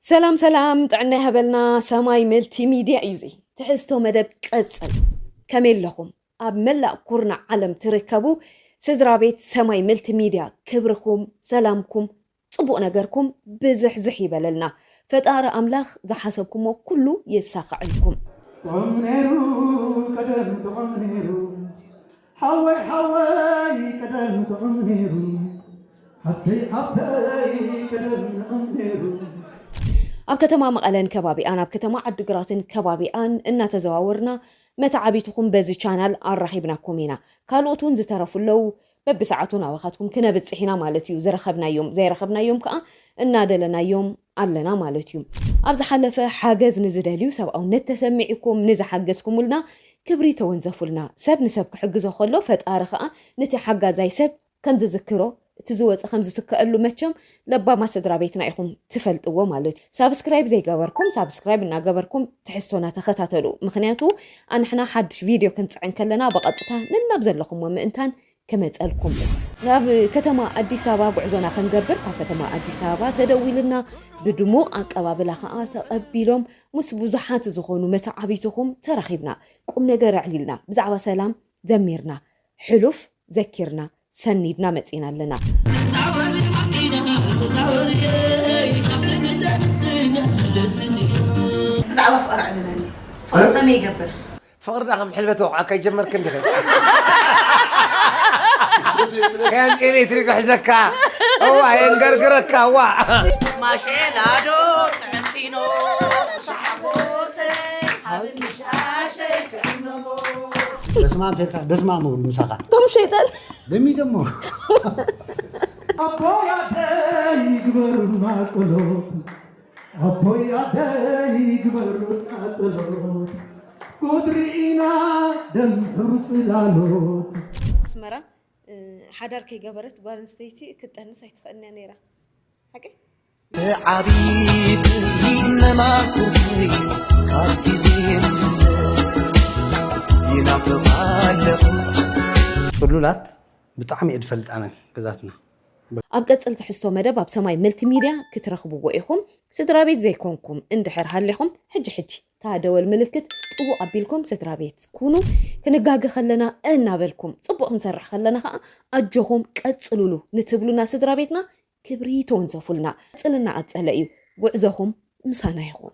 ሰላም ሰላም ጥዕና ይሃበልና ሰማይ መልቲ ሚድያ እዩ እዚ ትሕዝቶ መደብ ቀጽል ከመይ ኣለኹም ኣብ መላእ ኩርናዕ ዓለም ትርከቡ ስድራ ቤት ሰማይ መልቲ ሚድያ ክብርኹም ሰላምኩም ጽቡቕ ነገርኩም ብዝሕዝሕ ይበለልና ፈጣሪ ኣምላኽ ዝሓሰብኩሞ ኩሉ የሳኽዐልኩም ጥዑም ነይሩ ቀደም ጥዑም ነይሩ ሓወይ ሓወይ ቀደም ጥዑም ነይሩ ሓፍተይ ሓፍተይ ቀደም ንዑም ነይሩ። ኣብ ከተማ መቐለን ከባቢኣን ኣብ ከተማ ዓዲግራትን ከባቢኣን እናተዘዋወርና መተዓቢትኹም በዚ ቻናል ኣራኺብናኩም ኢና። ካልኦት እውን ዝተረፉ ኣለዉ። በብሰዓቱ ናባኻትኩም ክነብፅሕ ኢና ማለት እዩ። ዝረኸብናዮም፣ ዘይረኸብናዮም ከዓ እናደለናዮም ኣለና ማለት እዩ ኣብ ዝሓለፈ ሓገዝ ንዝደልዩ ሰብኣውነት ተሰሚዒኩም ንዝሓገዝኩሙልና ክብሪ ተወንዘፉልና ሰብ ንሰብ ክሕግዞ ከሎ ፈጣሪ ከኣ ንቲ ሓጋዛይ ሰብ ከምዝዝክሮ እቲ ዝወጸ ከምዝትከኣሉ መቸም ለባማት ስድራቤትና ኢኩም ትፈልጥዎ ማለት እዩ ሳብስክራይብ ዘይገበርኩም ሳብስክራይብ እናገበርኩም ትሕዝቶና ተከታተሉ ምክንያቱ ኣንሕና ሓድሽ ቪድዮ ክንጽዕን ከለና ብቀጥታ ነናብ ዘለኩሞ ምእንታን ክመጸልኩም እየ። ናብ ከተማ ኣዲስ ኣበባ ጉዕዞና ክንገብር ካብ ከተማ ኣዲስ ኣበባ ተደዊሉና ብድሙቕ ኣቀባብላ ከኣ ተቐቢሎም ምስ ብዙሓት ዝኾኑ መተዓብይትኹም ተራኺብና ቁም ነገር ኣዕሊልና ብዛዕባ ሰላም ዘሚርና ሕሉፍ ዘኪርና ሰኒድና መጺና ኣለና። ተዛወሪ ማኪና ተዛወሪ እይ ካብቲ ግዘ ንስነት መለስኒ። ብዛዕባ ፍቕሪ ኣዕልለኒ ፍቕሪ ከመይ ይገብር? ፍቅርና ከም ሕልበት ወቕዓ ከይጀመርክ እንዲኺ ከም ኤሌክትሪክ ክሕዘካ እዋ የንገርግረካ እዋ ማሸላዶ ጥዕምቲኖ ሻሓጎሰ ሃብኒ ሻሸይ ክዕምሞ በስመ አብ ተልካ በስመ አብ ምብል ምሳኻ ቶም ሸይጣን ደሚ ደሞ ኣቦያተይ ግበሩና ጸሎት ኣቦይ ኣደይ ግበሩልና ጸሎት ጉድ ርኢና ደም ሕብሩ ጽላሎት። ኣስመራ ሓዳር ከይገበረት ጓል ኣንስተይቲ ክትጠንስ ኣይትኽእልን እያ ነይራ። ሓቀይ? ብዓቢይ መማኽርተይ ካብ ግዜ ምስ ይናፍቓ ኣለኹ። ጽሉላት ብጣዕሚ እየ ድፈልጥ ኣነ ገዛትና። ኣብ ቀጽል ትሕዝቶ መደብ ኣብ ሰማይ መልቲ ሚድያ ክትረኽብዎ ኢኹም። ስድራቤት ዘይኮንኩም እንድሕር ሃሊኹም ሕጂ ሕጂ እታ ደወል ምልክት ጥውቕ ኣቢልኩም ስድራቤት ኩኑ። ክንጋገ ከለና እናበልኩም ጽቡቕ ክንሰርሕ ከለና ከኣ ኣጆኹም ቀጽሉሉ ንትብሉና ስድራቤትና ክብሪ ተወንዘፉልና። ቀጽልና ቀጸለ እዩ ጉዕዞኹም ምሳና ይኹን።